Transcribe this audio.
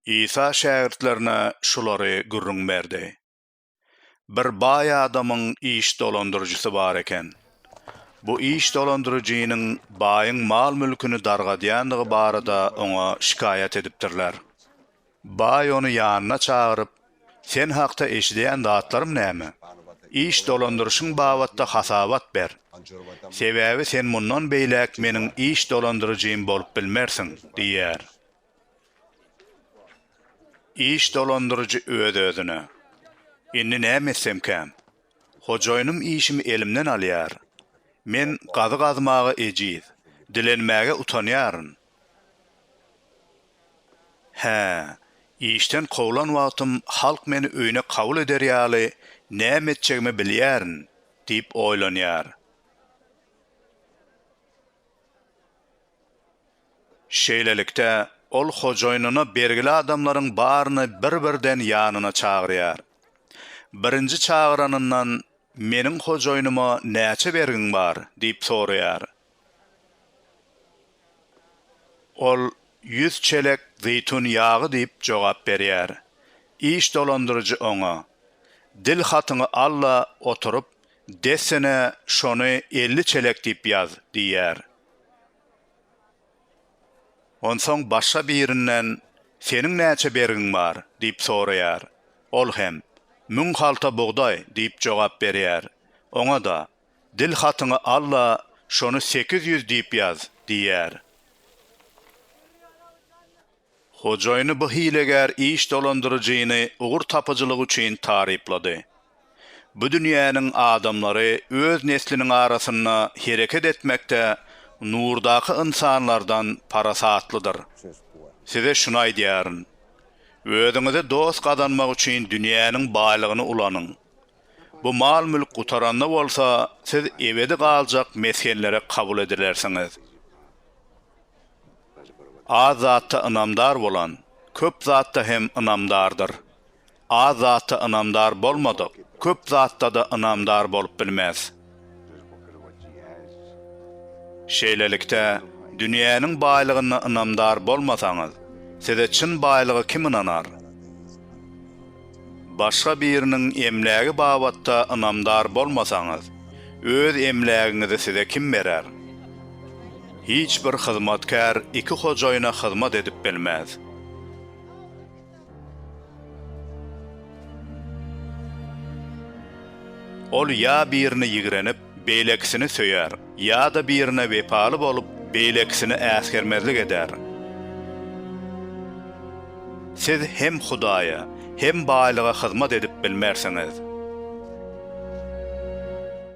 Isa şägirtlerine şulary gürrüň berdi, Bir baý adamyň iş dolandyryjysy bar eken. Bu iş dolandyryjynyň baýyň mal-mülküni dargadýandygy barada oňa şikaýat edipdirler. Baý ony ýanyna çagyryp, Sen hakda eşidýän zatlarym näme? Iş dolandyryşyň babatda hasabat ber. Sebäbi sen mundan beýläk meniň iş dolandyryjym bolup bilmersiň, diýýär. Iş dolandyryjy öz-özüne, Indi näme etsemkäm? Hojaýynym işimi elimden alýar. Men gazy gazmaga ejiz, dilenmäge utanýaryn. Hä, işden kowlan wagtym halk meni öýüne kabul eder ýaly näme etjegimi bilýärin, diýip oýlanýar. Şeýlelikde, ol hojaýynyna bergili adamlaryň baryny bir-birden ýanyna çagyrýar. Birinji çagyranyndan, Meniň hojaýynyma näçe bergiň bar? diýip soraýar. Ol ýüz çelek zeýtun ýagy diýip jogap berýär. Iş dolandyryjy oňa, Dil hatyňy al-da oturyp, dessine şony elli çelek diýip ýaz diýýär. Onsoň başga birinden, Seniň näçe bergiň bar? diýip soraýar. Ol hem, Müň halta bugdaý diýip jogap berýär. Oňa-da, Dil hatyňy al-da, şony sekiz ýüz diýip ýaz, diýýär. Hojaýyny bu hilegär iş dolandyryjyny ugur tapyjylygy üçin taryplady. Bu dünýäniň adamlary öz nesliniň arasynda hereket etmekde nurdaky ynsanlardan parasatlydyr. Size şuny aýdýaryn. Özüňize dost gazanmak üçin dünýäniň baýlygyny ulanyň. Bu mal-mülk gutaranda bolsa, siz ebedi galjak mesgenlere kabul edilersiňiz. Az zatda ynamdar bolan, köp zatda hem ynamdardyr. Az zatda ynamdar bolmadyk, köp zatda-da ynamdar bolup bilmez. Şeýlelikde, dünýäniň baýlygyna ynamdar bolmasaňyz, size çyn baýlygy kim ynanar? Başga biriniň emlägi babatda ynamdar bolmasaňyz, öz emlägiňizi size kim berer? Hiç bir hyzmatkär iki hojaýyna hyzmat edip bilmez. Ol ýa birine ýigrenip, beýlekisini söýer, ýa-da birine wepaly bolup, beýlekisini äsgermezlik eder. Siz hem Hudaýa, hem baýlyga hyzmat edip bilmersiňiz.